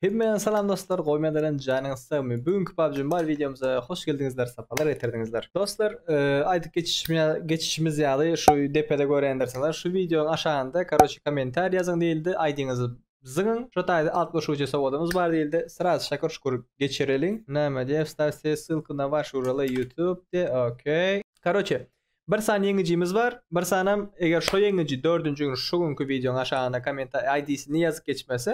Hemmeden salam dostlar gowy medelin janyňyz sagmy bu günki PUBG Mobile wideomyza hoş geldiňizler sapalar getirdiňizler dostlar aýdyp geçişimiz ýaly şu depede görendirsiňizler şu wideonyň aşagynda karoçe kommentariý ýazyň diýildi aýdyňyzy zyňyň şo taýda altmyşujy sowadymyz bar diýildi sraz şakur şukur geçireliň näme diýe wstaw se ssylku na waş uraly ýutub de okey karoçe bir sany ýeňijimiz bar bir sanam eger şo ýeňiji dördünji gün şu günki wideonyň aşagynda kommentariý aýdisini ýazyp geçmese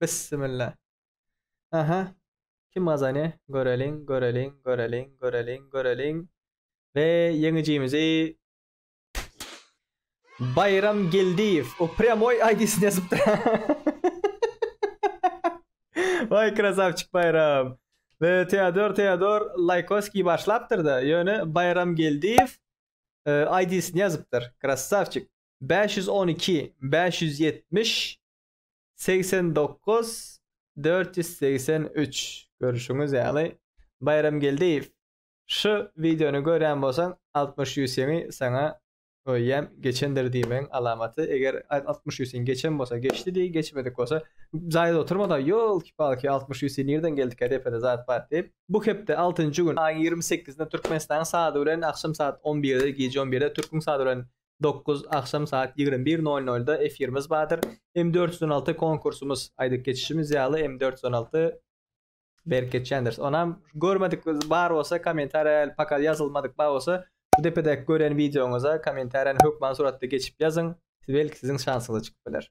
Bissimilla. Aha. Kim gazany? Göreliň, göreliň, göreliň, göreliň, göreliň. We ýeňijimizi Baýram Geldiýew. O prýamoý ID-sini ýazypdyr. Waý krasawçik Baýram. We Teodor Teodor Laýkoskiý başlapdyr-da, ýöne Baýram Geldiýew ID-sini ýazypdyr. Krasawçik. Bäş ýüz on iki, bäş ýüz ýetmiş. Segsen dokuz, dört ýüz segsen üç Görüşiňiz ýaly, Baýramgeldiýew, şu wideony görýän bolsaň, altmyş ýüsüňi saňa goýýan, geçendir diýmegiň alamaty, eger altmyş ýüsüň geçen bolsa geçdi diý, geçmedik bolsa jaýda oturma-da, ýolki-palki, altmyş ýüsi nirden geldikä, depede zat bar diýip. Bu hepde, altynjy gün, aýyň ýigrimi sekizinde Türkmenistanyň sady bilen agşam saat on birde, gije on birde, türküň sady bilen dokuz, agşam saat ýigrimi bir nol nolda efirimiz bardyr. M dört ýüz on alty konkursumyz, aýdyp geçişimiz ýaly, M dört ýüz on alty berip geçýändiris. Onam görmedik bar bolsa, kommentariýa häli paka ýazylmadyk bar bolsa, bu depedäki gören wideoňyza kommentariýany hökman suratda geçip ýazyň, belki siziň şansyňyza çykyp biler.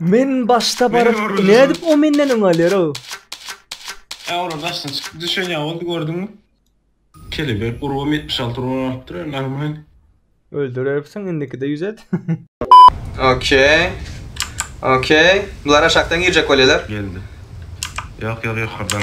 Men başda baryp öwrüldim. nädip o menden öň alýar o? Ä ora daşdan çykyp düşen ýa boldy gördüňmi? Kelebek urubam ýetmiş alty urban alypdyr a normal. Öldürersiň indikide ýüz et. Okey. Okey. Bular aşakdan girjek bolýalar. Geldi. Ýok ýok ýokardan.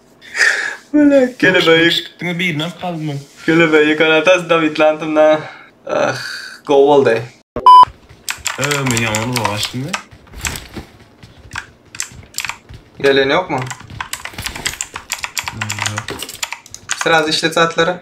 Bele kelebeýik. Diňe birinem kalmy? Kelebeýi garadas Dawid Lantynda. Ah, gowy boldy. Öö men ýaman uzak açdym we. Gelen ýokmy? Sraz işlet zatlara.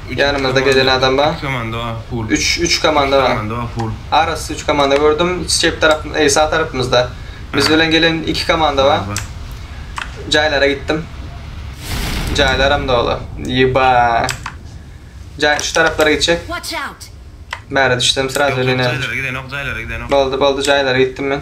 Üç ýanymyzda gezen adam bar. Üç komanda bar full. Üç üç komanda bar. Üç komanda bar full. Arassa üç komanda gördüm. Çep tarap eý sag tarapymyzda. Biz bilen gelen iki komanda bar. Jaýlara gitdim. Jaýlaram doly. Ýyba. Jaý şu taraplara gitjek. Bäri düşsem sraz öleýin. Jaýlara gidenok, jaýlara gidenok. Boldy, boldy jaýlara gitdim men.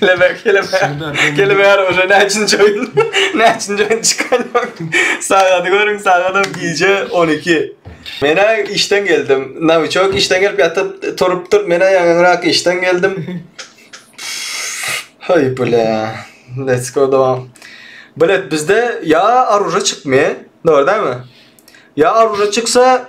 Kelebek, kelebek. Kelebek ara oje näçinji oýun? Näçinji oýun çykan? Sagady görüň, sagadam gije 12. Men-ä işden geldim. Nawiçok işden gelip ýatyp turupdyr. Men-ä ýaňyrak işden geldim. Heý bile. Let's go dowam. Bilet bizde ýa aruje çykmy? Dogry dämi? Ýa aruje çyksa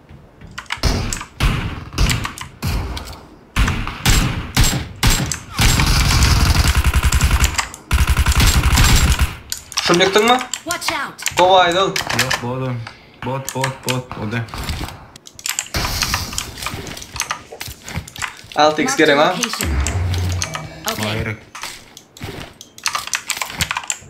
Şunu diktin mi? Watch out! Gowy aýdyl. Yok bot Bot bot bot o da. 6x gerek ha. Hayır.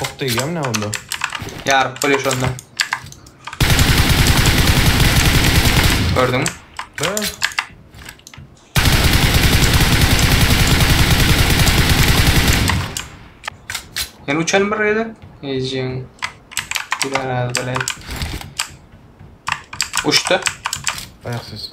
Ok degýämi nä onda? Ýaryp bolýar şonda. Gördüňmi? Hä? Ýene uçan bir ýerde. Ejeň. Biraz bilen. Uçtu. Aýaksyz.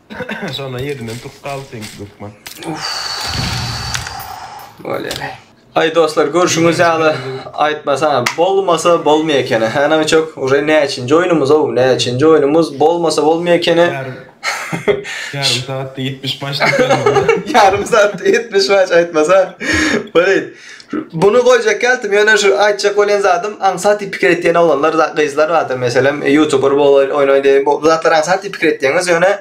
Şonda ýerinden turup galdy seňki hökman. Bolýar. Aý dostlar görşüňiz ýaly aýtmasa bolmasa bolmaýar ekeni. Hä Nawiçok uje näçinji oýnumyz ow näçinji oýnumyz bolmasa bolmaýar ekeni. Ýarym saatda 70 maç diýip. Ýarym saatda 70 maç aýtmasa. Bolýar. Buny goýjak geldim ýöne şu aýtjak bolýan zadym aňsat diýip pikir etýän oglanlar za gyzlar bardyr meselem ýutuber bol oýnaý diýip bu zatlar aňsat diýip pikir etýäňiz ýöne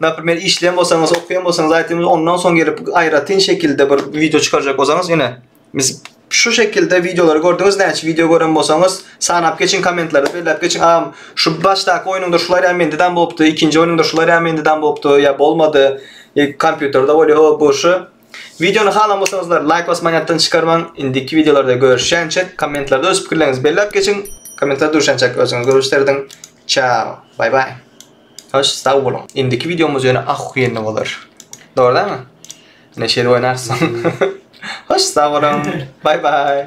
naprimer işleýän bolsaňyz okýan bolsaňyz aýtymyz ondan soň gelip aýratyn şekilde bir wideo çykarjak bolsaňyz ýöne biz şu şekilde wideolary gördüňiz näçe wideo gören bolsaňyz sanap geçiň kommentlerde belläp geçiň agam şu başdaky oýnuňda şular ýa mende dam bolupdy ikinji oýnuňda şular ýa mende dam bolupdy ýa bolmady e, kompýuterde bolýar o bu şu Wideony halan bolsaňyzlar laýk basmaň ýatdan çykarmaň. Indiki wideolarda görüşýänçek kommentlarda öz pikirleriňizi belläp geçiň. Kommentlarda duşançak özüňiz görüş serediň. Çao. Bay bay. Hoş sag boluň. Indiki wideomyz ýöne ahuýenli bolar. Dogrudanmy? Ine şeýle oýnarys. Hoş sag boluň. Bay bay.